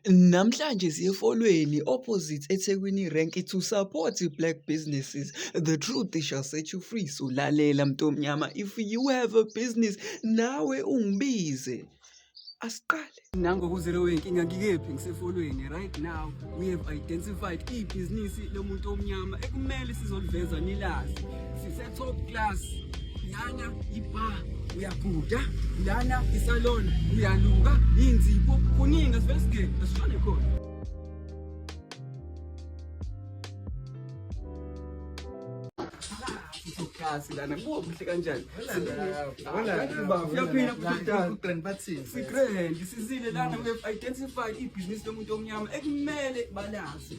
Namhlanje siyeFolweni opposite eThekwini Rank to support black businesses. The truth shall set you free. So lalela mntomnyama if you have a business nawe ungibize. Asiqale. Nango kuzero wenkinga ngikephi ngiseFolweni right now we have identified ibhizinisi lomuntu omnyama ekumele sizoliveza nilazi. Top class. Lana ibar uyaguda, lana isalon uyaluka, inzibo kuningi asivele sigebe asishone khona. kasi lana kubo kuhle kanjani uyaphila kugrand sizile lana we-identify ibhizinisi lomuntu omnyama ekumele balazi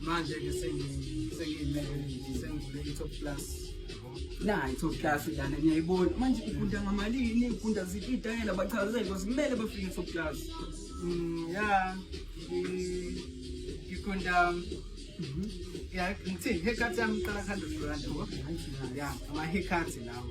manje ke sengiyimele sengivule i-top plus na i-top plus lana niyayibona manje igunda ngamalini igunda ziphi itayela bachazele because kumele bafike i-top plus mm, ya igunda mhm. ya ngithini haircut yami iqala 100 rand yabo ya ama-haircut lawo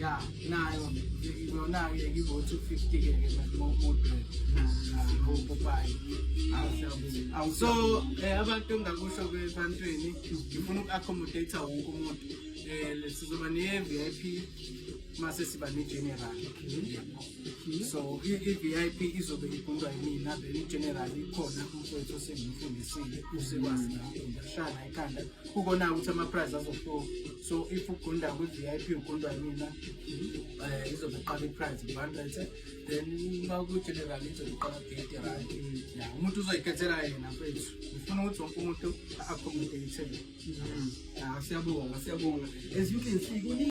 ya nayo yona-ke ngivo-two fifty-ke ke mamomudeopopayi so eh, abantu engakusho ebantwini ngifuna uku-accommodate wonke umuntu um sizoba ne-v i p mase siba ne-general so i-v i p izobe igundwa yimina then i-general ikhona umfowethu osengimfundisile usekwazi nakushana ekhanda kukona ukuthi ama-prize azohluka so if ugunda kwi-v i p ugundwa yimina um eh, izobe iqala i-prize ngu hundred then uma kwi-general izobe iqala eighty rand ya umuntu uzoyikhethela yena fethu ngifuna ukuthi wonke umuntu a-accommodate-ele mm. ah, siyabonga siyabonga as you can see